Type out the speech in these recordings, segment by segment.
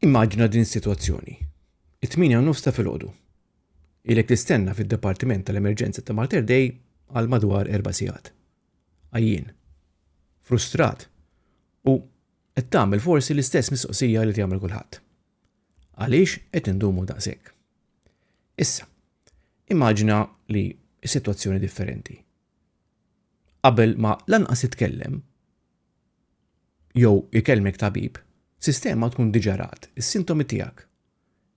Immaġina din is-sitwazzjoni. It-8 nofs ta' filgħodu. Ilek tistenna fid-Dipartiment tal-Emerġenza ta' Mater Dei għal madwar erba' sigħat. Għajjin. Frustrat. U qed tagħmel forsi l-istess mistoqsija li tagħmel kulħadd. Għaliex qed indumu daqshekk? Issa, Immaġina li s-sitwazzjoni differenti. Qabel ma lanqas titkellem jew ikellmek tabib, sistema tkun diġà rat is-sintomi tiegħek,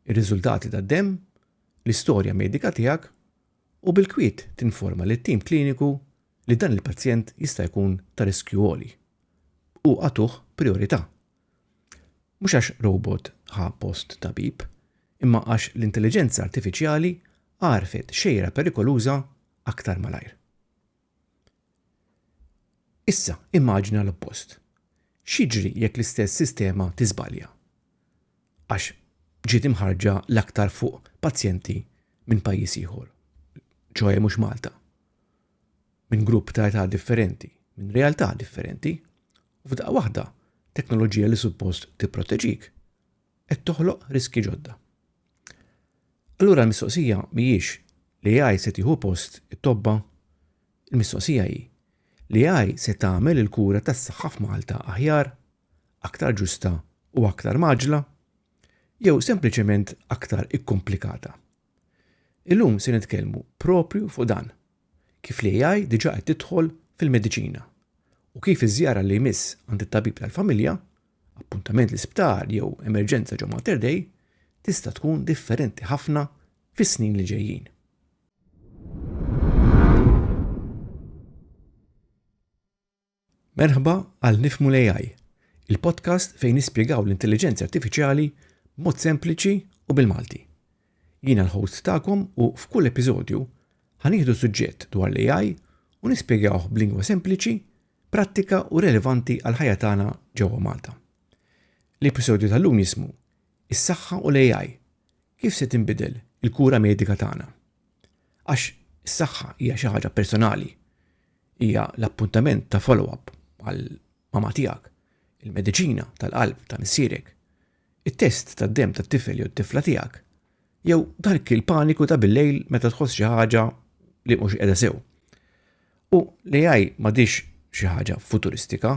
ir-riżultati tad-demm, l-istorja medika tiegħek u bil-kwiet tinforma lit-tim kliniku li dan il-pazjent jista' jkun ta' riskju għoli u agħtuh prijorità. Mhux għax robot ħa post tabib, imma għax l-intelliġenza artifiċjali għarfet xejra perikoluża aktar malajr. Issa, immaġina l-oppost. X'jiġri jekk l-istess sistema tiżbalja? Għax ġiet imħarġa l-aktar fuq pazjenti minn pajjiż ieħor, ċoe mhux Malta. minn grupp ta' età differenti, minn realtà differenti, u f'daqqa waħda teknoloġija li suppost tipproteġik qed toħloq riski ġodda. Allura l-mistoqsija mhijiex li AI se tieħu post it-tobba, il-mistoqsija hi li AI se tagħmel il-kura tas-saħħa f'Malta aħjar, aktar ġusta u aktar maġla, jew sempliċement aktar ikkomplikata. Illum se nitkellmu proprju fuq dan, kif l-AI diġà qed tidħol fil-mediċina u kif iż-żjara li jmiss għand it-tabib tal-familja, appuntament l-isptar jew emerġenza ġo Mater Dei, tista' tkun differenti ħafna fis-snin li ġejjin. Merħba għal Nifhmu l-AI, il-podcast fejn nispjegaw l-intelliġenzi artifiċjali b'mod sempliċi u bil-Malti. Jiena l-host tagħkom u f'kull episodju ħanieħdu suġġett dwar l-AI u nispjegawh b'lingwa sempliċi, prattika u relevanti għal ħajja tagħna ġewwa Malta. L-episodju tal-lum jismu Is-saħħa u l-AI kif se tinbidel il-kura medika tagħna. Għax is-saħħa hija xi ħaġa personali. Hija l-appuntament ta' follow-up għal mama tiegħek, il-mediċina tal-qalb ta' missierek, it-test tad-demm tat-tifel jew t-tifla tiegħek, jew dak il-paniku ta' bil-lejl meta tħoss xi ħaġa li mhux qiegħda sew. U l-AI m'għadix xi ħaġa futuristika,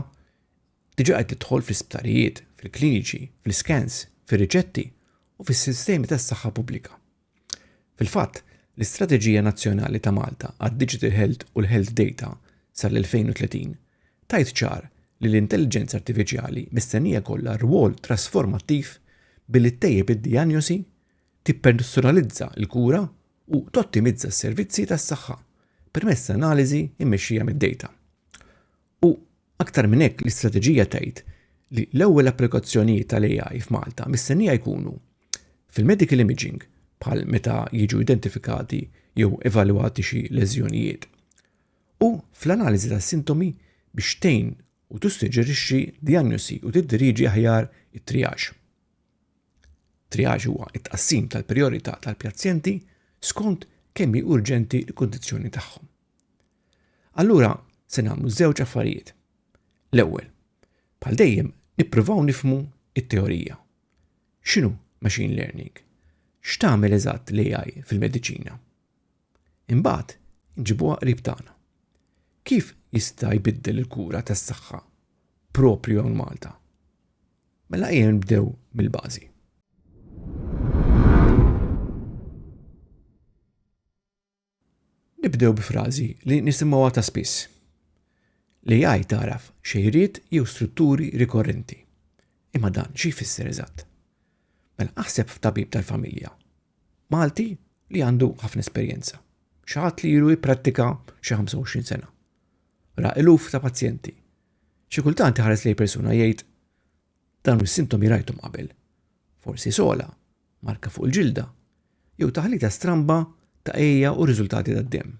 diġà qed tidħol fl-isptarijiet, fil-kliniċi, fl-iskans, fir-riċetti u fis-sistemi tas-saħħa pubblika. Fil-fatt, l-Istrateġija Nazzjonali ta' Malta għad-Digital Health u l-Health Data sal-2030 tgħid ċar li l-intelliġenza artifiċjali mistennija jkollha rwol trasformattiv billi ttejjeb id-dijanjosi, tippersonalizza l-kura u tottimizza s-servizzi tas-saħħa permezz ta' analiżi mmexxija mid-data. U Aktar minn hekk, l-istrateġija tgħid li l-ewwel applikazzjonijiet tal-AI f'Malta mistennija jkunu fil-medical imaging bħal meta jiġu identifikati jew evalwati xi leżjonijiet u fl-analiżi tas-sintomi biex tgħin u tissuġġerixxi dijanjosi u tiddiriġi aħjar it-triage. Triage huwa t-tqassim tal-prijorità tal-pazjenti skont kemm hi urġenti l-kundizzjoni tagħhom. Allura se nagħmlu żewġ affarijiet. L-ewwel, bħal dejjem nippruvaw nifmu it-teorija. X'inhu machine learning? X'tagħmel eżatt l-AI fil-mediċina? Imbagħad nġibuha qrib tagħna. Kif jista' jbiddel il-kura tas-saħħa propju hawn Malta? Mela ejja nibdew mill-bażi. Nibdew bi frażi li nisimgħuha ta' spiss. L-AI tagħraf xejriet jew strutturi rikorrenti. Imma dan xi jfisser eżatt? Mela aħseb f'tabib tal-familja. Malti li għandu ħafna esperjenza. Xaħat li jiru jipprattika xi 25 sena. Ra iluf ta' pazjenti. Xi kultant iħares lej persuna jgħid Dawn is-sintomi rajthom qabel. Forsi sola, marka fuq il-ġilda, jew taħlita stramba ta' ejja u riżultati tad-demm.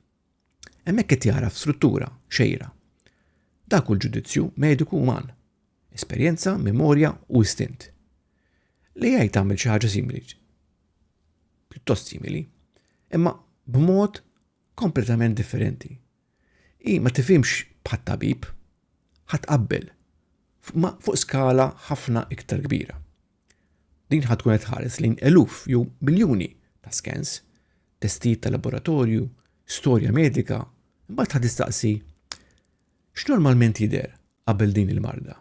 Hemmhekk qed jagħraf struttura, xejra. Dak hu l-ġudizzju mediku uman. Esperjenza, memorja u istint. Li jgħid tagħmel xi ħaġa simili. Pjuttost simili, imma b'mod kompletament differenti. Hi ma tifhimx bħat-tabib. Ħa tqabbel ma fuq skala ħafna iktar kbira. Din ħa tkun qed tħares lejn eluf jew miljuni ta' skens, testijiet ta' laboratorju, storja medika, imbagħad ħa tistaqsi x'normalment jidher qabel din il-marda.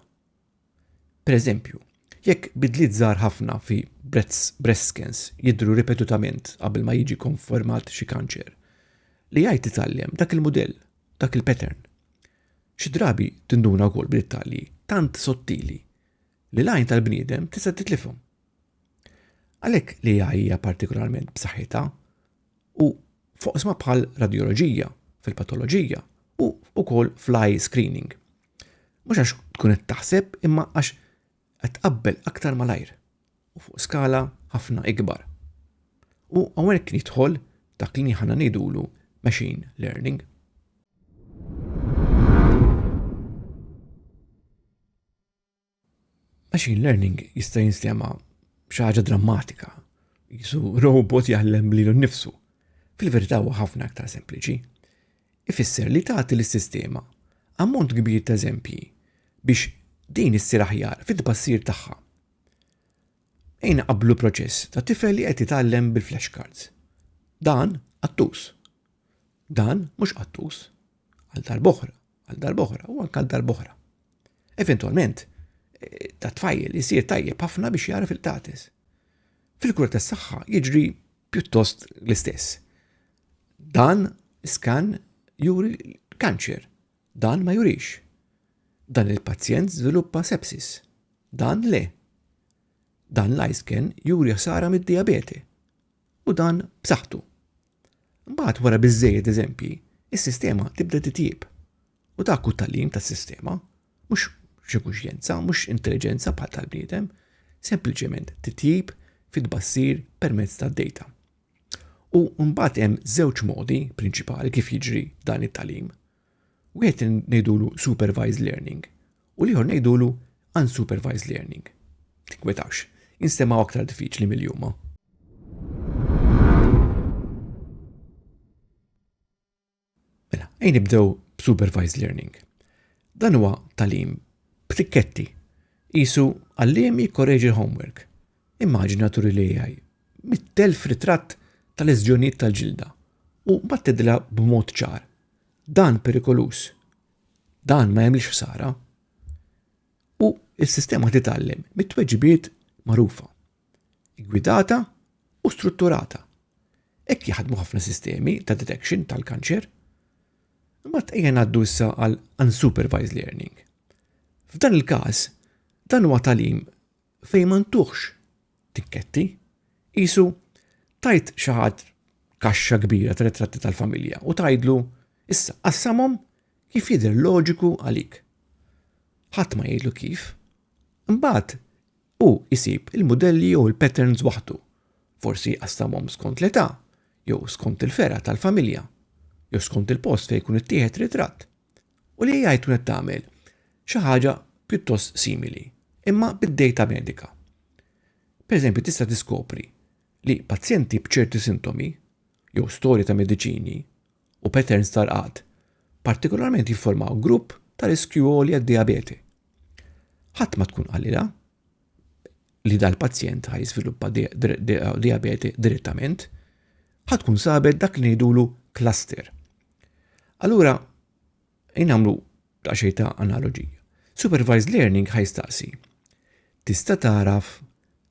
Pereżempju, jekk bidliet żgħar ħafna fi breast scans jidhru ripetutament qabel ma jiġi kkonfermat xi kanċer, l-AI titgħallem dak il-mudell, dak il-pattern. Xi drabi tinduna wkoll b'dettalji tant sottili li l-għajn tal-bniedem tista' titlifhom. Għalhekk l-AI hija partikolarment b'saħħitha u foqsma bħal radjoloġija, fil-patoloġija u wkoll fl-eye screening. Mhux għax tkun qed taħseb imma għax qed tqabbel aktar malajr u fuq skala ħafna ikbar. U hawnhekk jidħol dak li ħana ngħidulu machine learning. Machine learning jista' jinstema xi ħaġa drammatika, jisu robot jgħallem lilu nnifsu. Fil-verità huwa ħafna aktar sempliċi. Ifisser li tagħti lis-sistema ammont kbir ta' eżempji biex din issir aħjar fit-tbassir tagħha. Ejna qablu proċess ta' tifel li qed jitgħallem bil-flashcards. Dan attus. Dan mhux qattus għal darb'oħra, għal darb'oħra u anke għal darb'oħra. Eventwalment, eh, ta' tfajl isir tajjeb ħafna biex jara fil-tatis. Fil-kura tas-saħħa jiġri pjuttost l-istess. Dan skan juri kanċer, dan ma jurix. Dan il-pazjent żviluppa sepsis, dan le. Dan l-isken juri ħsara mid-diabete u dan b'saħħtu. Mbagħad wara biżżejjed eżempji, is-sistema tibda titjieb. U dak hu tagħlim tas-sistema, mhux xi kuxjenza, mhux intelliġenza bħal tal-bniedem, sempliċement titjib fit-tbassir permezz tad-data. U mbagħad hemm żewġ modi prinċipali kif jiġri dan it-talim. Wieħed ngħidulu supervised learning u l-ieħor ngħidulu unsupervised learning. Tinkwetawx, instemgħu aktar diffiċli mill-jumma. Mela, ejn nibdew b'supervised learning. Dan huwa talim b'tikketti. Isu għalliem jikkoreġi l-homework. Immaġina turi li għaj, mit-telf ritratt tal-eżġjoniet tal-ġilda u battidla b'mod ċar Dan perikoluż. Dan ma jemlix ħsara. U s-sistema titgħallem mit-tweġibiet magħrufa, gwidata u strutturata. Hekk jaħdmu ħafna sistemi ta' detection tal-kanċer. Imma tqejja ngħaddu issa għal unsupervised learning. F'dan il-każ, dan huwa talim fejn ma ntuħx tikketti, qisu tajt xi ħadd kaxxa kbira ta' ritratti tal-familja u tajdlu issa qassamhom kif jidher loġiku għalik. Ħadd ma jgħidlu kif. Imbagħad u isib il-modelli jew il-patterns waħdu. Forsi qassamhom skont l-età, jew skont il-fera tal-familja, jew skont il-post fejn jkun ittieħed ritratt. u li AI tkun qed tagħmel xi ħaġa pjuttost simili, imma bid-dejta medika. Pereżempju, tista' tiskopri li pazjenti b'ċerti sintomi jew storja ta' mediċini u patterns tal-qgħad partikolarment jifformaw grupp ta' riskju għoli għad-diabete. Ħadd ma tkun qalilha li dal-pazjent ħaj jiżviluppa diabete direttament, ħadd tkun sabet dak li ngħidulu cluster Allura, jnamlu ta' xej ta' analogija. Supervised learning ħajstaqsi. Tista' taraf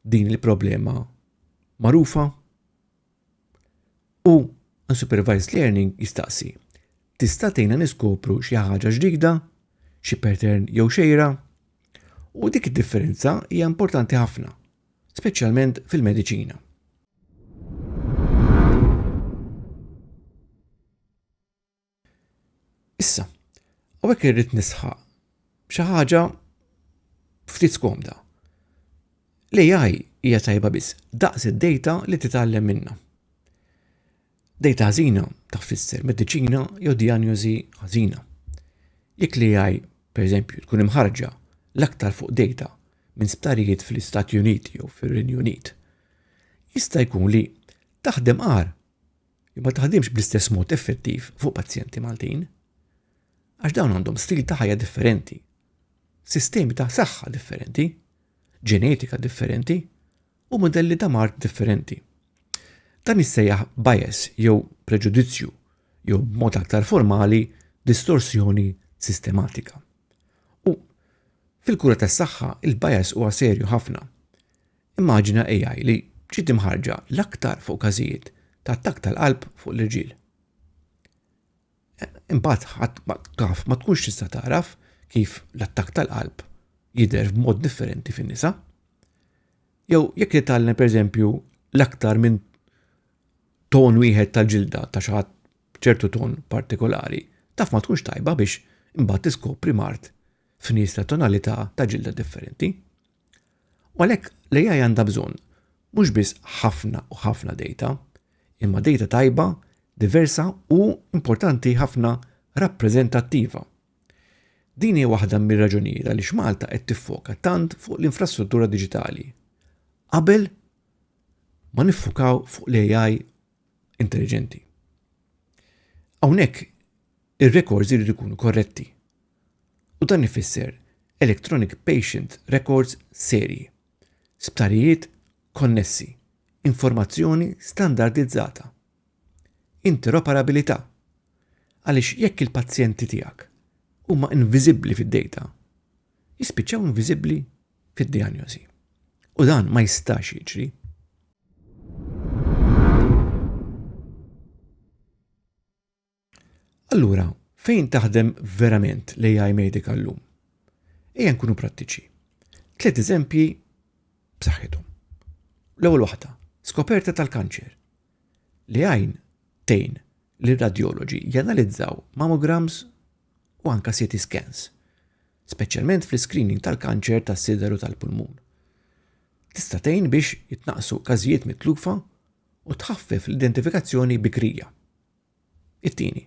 din il-problema marufa? U unsupervised learning jistaqsi. Tista' tgħinna niskopru xi ħaġa ġdida, xi pattern jew xejra? U dik id-differenza hija importanti ħafna, speċjalment fil-mediċina. Issa, għawek irrit nisħaq xi ħaġa ftit skomda. L-AI hija tajba biss daqs id-data li titgħallem minna. Dejta ħażina ta' tfisser mediċina jew dijanjożi ħażina. Jekk li għaj, per eżempju, tkun imħarġa l-aktar fuq dejta minn sptarijiet fl-Istati Uniti jew fir-Renju Unit, jista' jkun li taħdem għar ma taħdimx bl-istess mod effettiv fuq pazjenti Maltin. Għax dawn għandhom stil ta' ħajja differenti, sistemi ta' saħħa differenti, ġenetika differenti u mudelli ta' mard differenti. Dan jissejjaħ bias jew preġudizzju jew b'mod aktar formali distorsjoni sistematika. U fil-kura tas-saħħa il-bias huwa serju ħafna. Immaġina AI li ġiet imħarġa l-aktar fuq każijiet ta' attakk tal-qalb fuq l-irġiel. Imbagħad ħadd ma taf ma tkunx tista' tagħraf kif l-attakk tal-qalb jidher b'mod differenti fin-nisa. Jew jekk jitgħallem pereżempju l-aktar minn ton wieħed tal-ġilda ta' xi ħadd ċertu ton partikolari, taf ma tkunx tajba biex imbagħad tiskopri mart f'nies ta' tonalità ta' ġilda differenti. U għalhekk l-AI għandha bżonn mhux biss ħafna u ħafna data, imma data tajba, diversa u importanti ħafna rappreżentattiva. Din hija waħda mir-raġunijiet għaliex Malta qed tiffoka tant fuq l-infrastruttura diġitali. Qabel ma niffukaw fuq l-AI intelligenti. Hawnhekk ir-rekords jridu jkunu korretti. u dan ifisser electronic patient records serji, sptarijiet konnessi, informazzjoni standardizzata, interoperabilità, għaliex jekk il-pazjenti tiegħek huma inviżibbli fid-dejta, jispiċċaw inviżibbli fid-dijanjosi, u dan ma jistax jiġri. Allura, fejn taħdem verament l-AI medika llum? Ejja nkunu prattiċi. Tliet eżempji b'saħħithom. L-ewwel waħda, skoperta tal-kanċer. Li għajn tejn li radjoloġi janalizzaw mammograms u anka CT scans, speċjalment fl-screening tal-kanċer tas-sideru tal-pulmun. Tista' tgħin biex jitnaqsu każijiet mitlufa u tħaffef l-identifikazzjoni bikrija. It-tieni,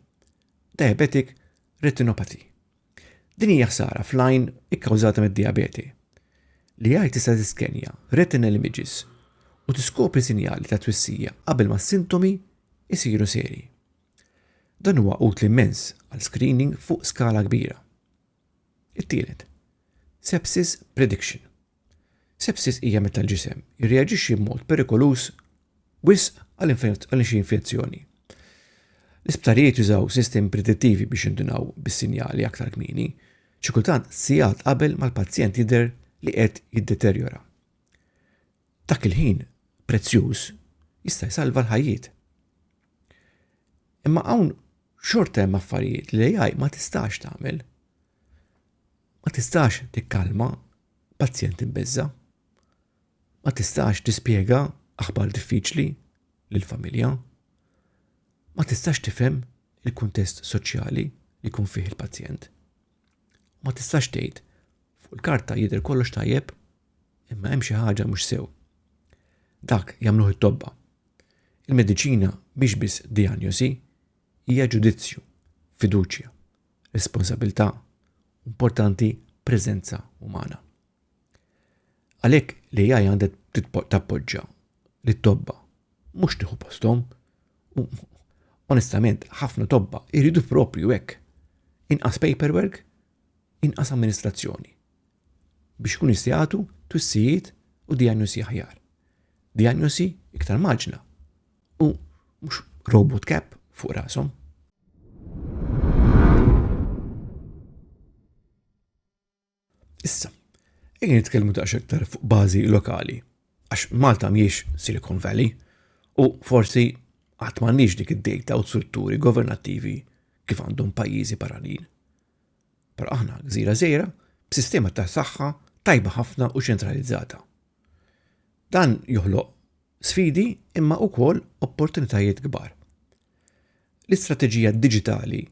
diabetic retinopathy. Din hija ħsara fl-għajn ikkawżata mid-diabete li għaj tista' tiskenja retinal images u tiskopri sinjali ta' twissija qabel ma s-sintomi jsiru seri. Dan huwa utli immens għal screening fuq skala kbira. It-tielet, sepsis prediction. Sepsis hija meta l-ġisem jirreaġixxi b'mod perikoluż wisq għal xi infezzjoni. L-isptarijiet jużaw sistemi predittivi biex jindunaw bis-sinjali aktar kmieni, xi kultant sigħat qabel mal-pazjent jidher li qed jiddeterjora. Dak il-ħin prezzjuż jista' jsalva l-ħajjiet. Imma hawn xorta hemm affarijiet li l-AI ma tistax tagħmel. Ma tistax tikkalma pazjent imbeżża'. Ma tistax tispjega aħbar diffiċli lill-familja. Ma tistax tifhem il-kuntest soċjali li jkun fih il-pazjent. Ma tistax tgħid fuq il-karta jidher kollox tajjeb imma hemm xi ħaġa mhux sew. Dak jagħmluh it-tobba. Il-mediċina mhix biss dijanjosi, hija ġudizzju, fiduċja, responsabilità, importanti preżenza umana. Għalhekk li jgħaj għandet tappoġġa li tobba mhux tieħu posthom u onestament ħafna tobba jridu propju hekk. Inqas paperwork, inqas amministrazzjoni biex kun jistijatu twissijiet u diagnosi aħjar. Diagnosi iktar maġna u mhux robot cap fuq rashom. Issa, ejja nitkellmu daqs iktar fuq bażi lokali, għax Malta mhijiex Silicon Valley u forsi għad m'għandniex dik id-dejta u strutturi governattivi kif għandhom pajjiżi barranin. Però aħna gżira żejra b'sistema ta' saħħa tajba ħafna u ċentralizzata. Dan joħloq Sfidi imma wkoll opportunitajiet kbar. L-istrateġija diġitali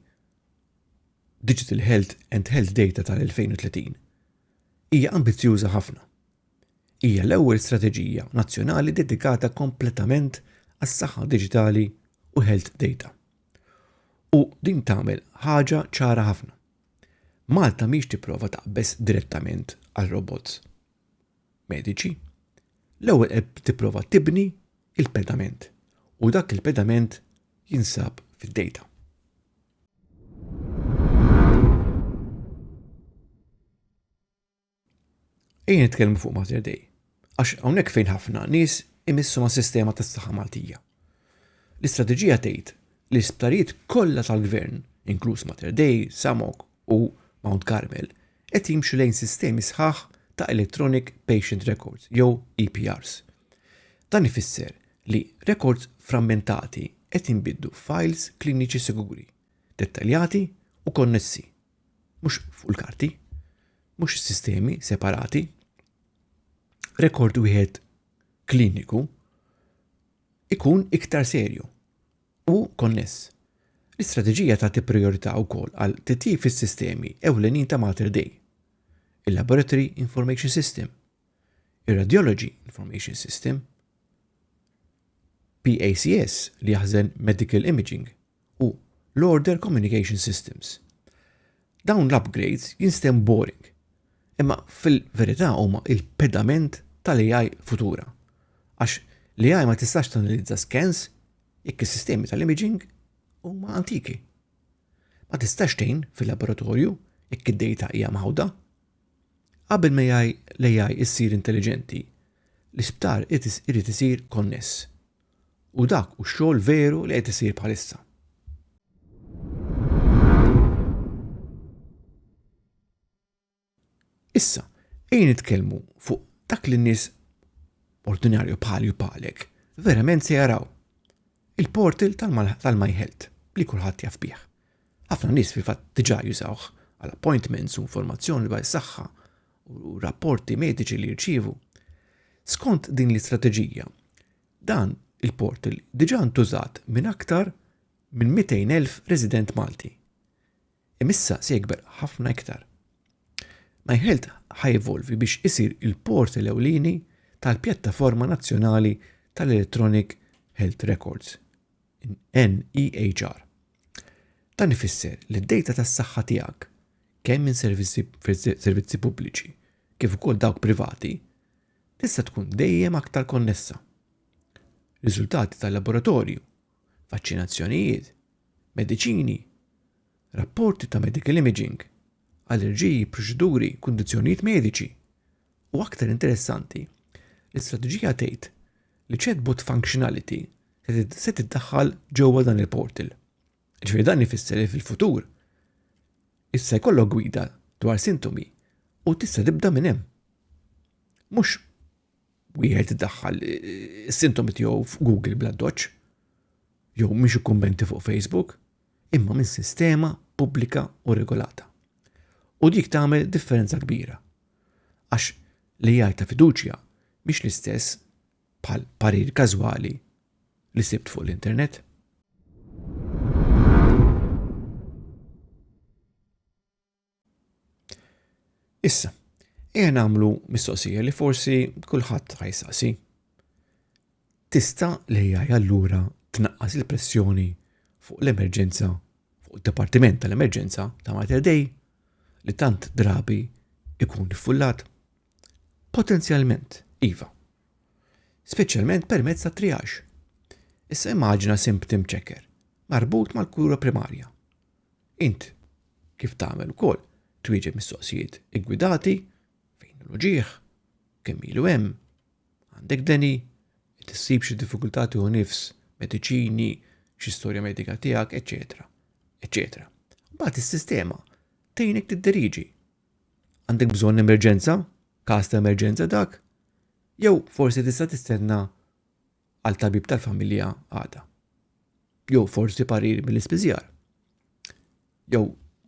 Digital Health and Health Data tal-2030 hija ambizzjuża ħafna. Hija l-ewwel strateġija nazzjonali dedikata kompletament għas-saħħa diġitali u health data. U din tagħmel ħaġa ċara ħafna. Malta mhix tipprova taqbeż direttament għal robots. mediċi, l-ewwel qed tipprova tibni il-pedament u dak il-pedament jinsab fid-data. Ejja nitkellmu fuq Mater Dei, għax hawnhekk fejn ħafna nies imissu ma' sistema tas saħħa Maltija. L-istrateġija tgħid li l-isptarijiet kollha tal-gvern, inkluż Mater Dei, Samok u Mount Carmel, qed jimxu lejn sistemi sħaħ ta' Electronic Patient Records jew EPRs. Dan ifisser li rekords frammentati qed jinbidlu f'fajls kliniċi siguri, dettaljati u konnessi, mhux fuq il-karti, mhux sistemi separati. Rekord wieħed kliniku ikun iktar serju u konness. L-istrateġija tagħti prijorità wkoll għal titjib fis-sistemi ewlenin ta' Mater Dei, il-Laboratory Information System, ir-Radiology Information System, PACS li jaħżen Medical Imaging u l-Order Communication Systems. Dawn l-upgrades jinstem boring, imma fil-verità huma il-pedament tal-AI futura. Għax l-AI ma tistax tanalizza scans Jekk is-sistemi tal-imaging huma antiki. Ma tistax tgħin fil-laboratorju jekk id-dejta hija mħawda. Qabel ma jgħaj l-AI issir intelliġenti, l-isptar irid isir konness. U dak hu x-xogħol veru li qed isir bħalissa. Issa, ejja nitkellmu fuq dak li n-nies ordinarju bħali u bħalek verament se jaraw. Il-portal tal-My Health li kulħadd jaf bih. Ħafna nies fil-fatt diġà jużawh għal appointments u informazzjoni dwar is-saħħa u rapporti mediċi li jirċievu. Skont din l-istrateġija, dan il-portal diġà ntużat minn aktar minn 200,000 resident Malti. Imma issa se jikber ħafna iktar. MyHealth ħa jevolvi biex isir il-portal ewlieni tal-Pjattaforma Nazzjonali tal-Electronic Health Records, NEHR. Dan ifisser li d-dejta tas-saħħa tiegħek, kemm minn servizzi pubbliċi kif ukoll dawk privati, tista' tkun dejjem aktar konnessa. Riżultati tal-laboratorju vaċċinazzjonijiet, mediċini, rapporti ta' medical imaging, allerġiji, proċeduri, kundizzjonijiet mediċi, u aktar interessanti, l-istrateġija tgħid li chatbot functionality se tiddaħħal ġewwa dan il-portal. Ġifieri dan ifisser li fil-futur issa jkollok gwida dwar sintomi u tista' tibda minn hemm. Mhux wieħed iddaħħal is-sintomi tiegħu f'Google bla doċ, jew mhix ikkummenti fuq Facebook, imma minn sistema pubblika u regolata. U dik tagħmel differenza kbira. Għax li jgħid ta' fiduċja mhix l-istess bħal parir każwali li sibt fuq l-internet. Issa, ejja nagħmlu mistoqsija li forsi kulħadd ħajsaqsi. Tista' li jgħaj allura tnaqqas il-pressjoni fuq l-emerġenza fuq id-Dipartiment tal-Emerġenza ta' Mater Dei li tant drabi ikun iffullat? Potenzjalment, iva. Speċjalment permezz ta' triax. Issa immaġina simptim ċeker marbut mal-kura primarja. Int kif tagħmel ukoll twieġeb mistoqsijiet iggwidati fejn hu l-uġigħ, kemm ilu hemm, għandek deni, qed issib xi diffikultà tieħu nifs, mediċini, xi storja medika tiegħek, eċetera, eċetera. Mbagħad is-sistema tgħinek tidderiġi. Għandek bżonn emerġenza, każ ta' emerġenza dak, jew forsi tista' tistenna għal tabib tal-familja għada. Jew forsi parir mill-ispiżjar. Jew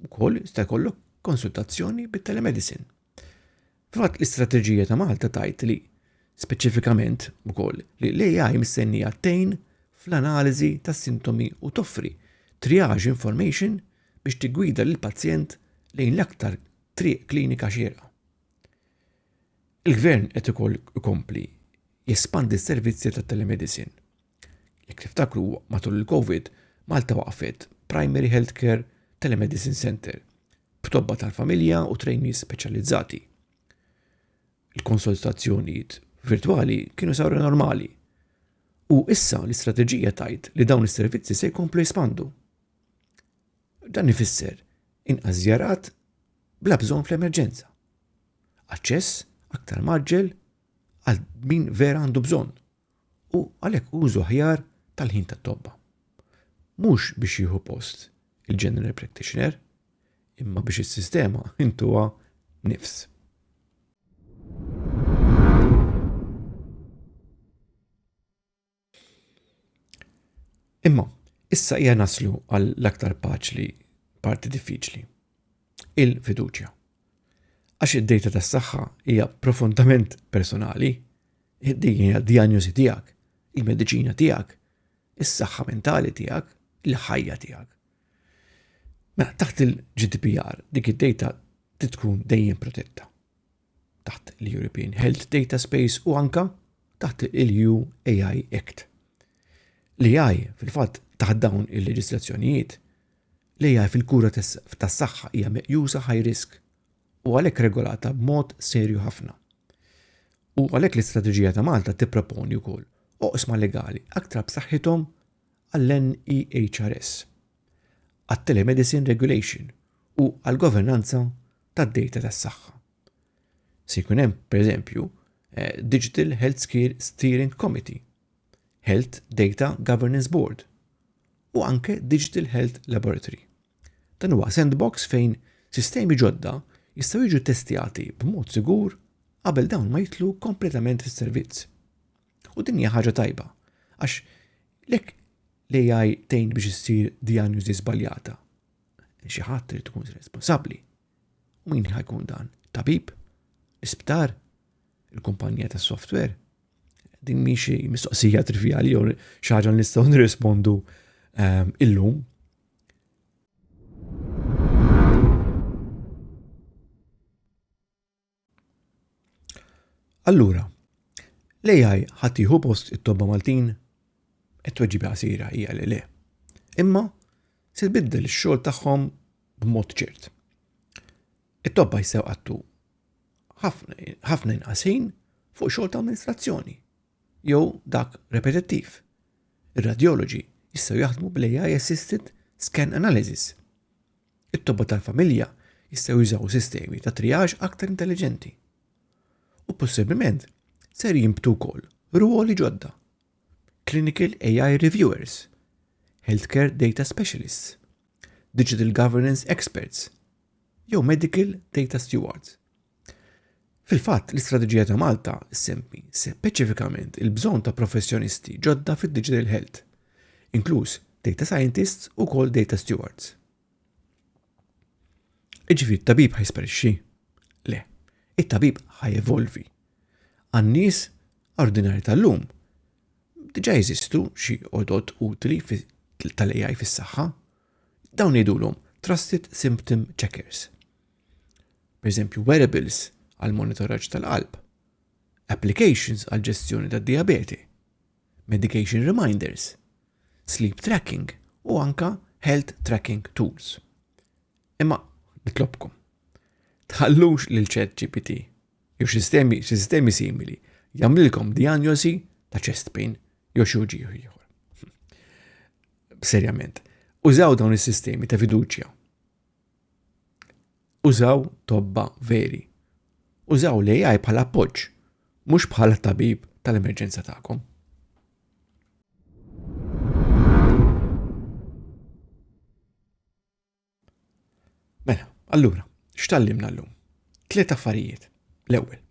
ukoll jista' jkollok konsultazzjoni bit-telemedicine. Fatt l-istrateġija ta' Malta tajt li speċifikament ukoll li l-AI mistennija tejn fl-analiżi tas sintomi u toffri triage information biex tiggwida lill pazjent lejn l-aktar triq klinika xierqa. Il-Gvern qed ukoll ikompli jespandi s-servizzi ta' telemedicine. Jekk tiftakru matul il-Covid, Malta waqfet Primary Health Care Telemedicine Centre b'tobba tal-familja u trainees speċjalizzati. Il-konsultazzjonijiet virtwali kienu saru normali. U issa l-istrateġija tajt li dawn is-servizzi se jkomplu jispandu. Dan ifisser inqas żjarat bla bżonn fl-emerġenza. aċċess aktar maġġel għal min vera għandu bżonn u għalhekk użu aħjar tal-ħin tat-tobba. Mhux biex jieħu post il-general practitioner, imma biex is-sistema intuha nifs. Imma, issa hija naslu għall-aktar paċli parti diffiċli. Il-fiduċja. Għax id-dejta tas-saħħa hija profondament personali, din hija diagnosi tiegħek, il-mediċina tiegħek, is-saħħa mentali tiegħek, il-ħajja tiegħek. Mela taħt il-GDPR dik id-dejta tkun dejjem protetta. taħt l-European Health Data Space u anka taħt il-EU AI Act. L-AI fil-fatt taħt dawn il-leġislazzjonijiet, l-AI fil-kura tas-saħħa hija meqjusa high risk u għalhekk regolata b'mod serju ħafna. U għalhekk l-istrateġija ta' Malta tipproponi wkoll oqsma legali aktar b'saħħithom għall-NEHRS, għat-Telemedicine Regulation u għall-governanza tad-dejta tas-saħħa. Se jkun hemm, pereżempju, eh, Digital Healthcare Steering Committee, Health Data Governance Board u anke Digital Health Laboratory. Dan huwa sandbox fejn sistemi ġodda jistgħu jiġu testjati b'mod sigur qabel dawn ma jitlu kompletament fis-servizz. U din hija ħaġa tajba, għax lek l-AI tgħin biex issir diagnosi żbaljata Xi ħadd irid ikun responsabbli. U min ħajkun dan? Tabib? L-isptar? Il-kumpanija tas software? Din mi xi mistoqsija trivjali jew xi ħaġa nistgħu nirrispondu ehm, illum. Allura, l-AI ħadd jieħu post it-tobba Maltin? It-tweġiba qasira hija li le. Imma se tbiddel ix-xogħol tagħhom b'mod ċert. It-tobba jsew qattu ħafna inqas ħin fuq xogħol ta' amministrazzjoni jew dak repetittiv. Ir-radjoloġi jistgħu jaħdmu bl-AI assisted scan analysis. It-tobba tal-familja jistgħu jużaw sistemi ta' triage aktar intelliġenti u possibbilment ser jinbtu wkoll rwoli ġodda, clinical AI reviewers, healthcare data specialists, digital governance experts, jew medical data stewards. Fil-fatt, l-istrateġija ta' Malta ssemmi speċifikament il-bżonn ta' professjonisti ġodda fid-digital health, inkluż data scientists u wkoll data stewards. Iġifieri t-tabib ħajsparixxi? Le, it-tabib ħajevolvi. Għan-nies ordinari tal-lum diġa jeżistu xi odot utli tal-AI fis-saħħa. Dawn jgħidulhom trusted symptom checkers. pereżempju wearables għal monitoraġġ tal-qalb, applications għal ġestjoni tad-dijabete, medication reminders, sleep tracking u anka health tracking tools. Imma nitlobkom, tħallux lil ċet GPT jew sistemi, sistemi simili jagħmlilkom diagnosi ta' chest pain jew xi uġieħ ieħor. Serjament, użaw dawn is-sistemi ta' fiduċja Użaw tobba veri. Użaw l-AI bħala appoġġ, mhux bħala tabib tal-emerġenza tagħkom. Mela, allura, x'tallimna llum? Tliet affarijiet. L-ewwel.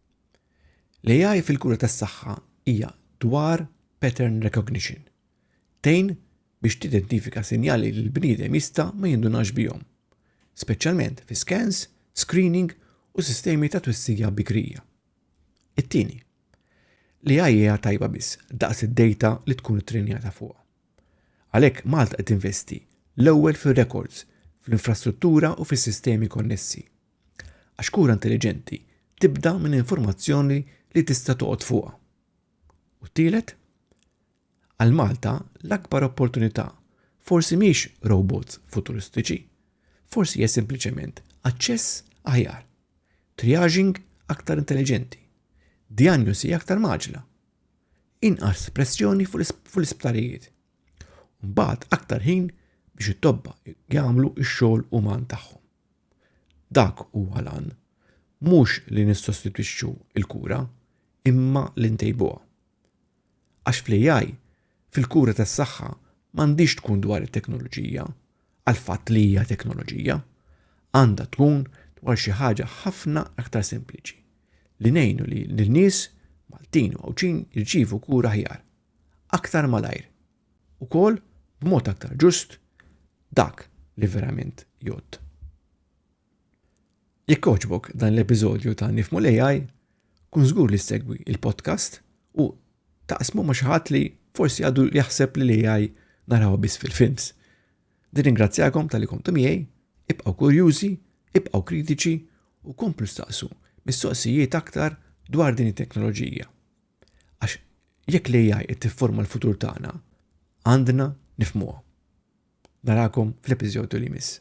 L-AI fil-kura tas-saħħa hija dwar pattern recognition, tgħin biex tidentifika sinjali li l-bniedem jista' ma jindunax bihom, speċjalment fi skans, screening u sistemi ta' twissija bikrija. It-tieni, li ai hija tajba biss daqs id-dejta li tkun ittrenjata fuqha. Għalhekk Malta qed tinvesti l-ewwel fir-rekords, fl-infrastruttura u fis-sistemi konnessi. Għax kura intelliġenti tibda minn informazzjoni li tista' toqgħod fuqha. U t-tielet, Għal Malta l-akbar opportunità forsi mhix robots futuristiċi, forsi hija sempliċement aċċess aħjar, triaging aktar intelliġenti, djanjosi aktar maġla, inqas pressjoni fuq l-isptarijiet, u mbagħad aktar ħin biex it-tobba jagħmlu x-xogħol uman tagħhom. Dak huwa lan, mhux li nissostitwixxu l-kura, imma li ntejbuha. Għax fl-AI, fil-kura tas-saħħa m'għandhiex tkun dwar it-teknoloġija għal fatt li hija teknoloġija. Għandha tkun dwar xi ħaġa ħafna aktar sempliċi li ngħinu li l-nies Maltin u Għawdxin jirċievu kura ħjar. Aktar malajr. Ukoll b'mod aktar ġust dak li verament jgħodd. Jekk għoġbok dan l-episodju ta' Nifmu l-AI, kun żgur li segwi il-podcast u taqsmu ma' xi ħadd li forsi għadu jaħseb li l-AI naraw biss fil-films. Nirringrazzjakom tal-li kontu miegħi, ibqgħu kurjużi, ibqgħu kritiċi u komplu staqsu mistoqsijiet aktar dwar din it-teknoloġija. Għax jekk l-AI qed tifforma l-futur tagħna, għandna nifmuha. Narakom fl-episodju li miss.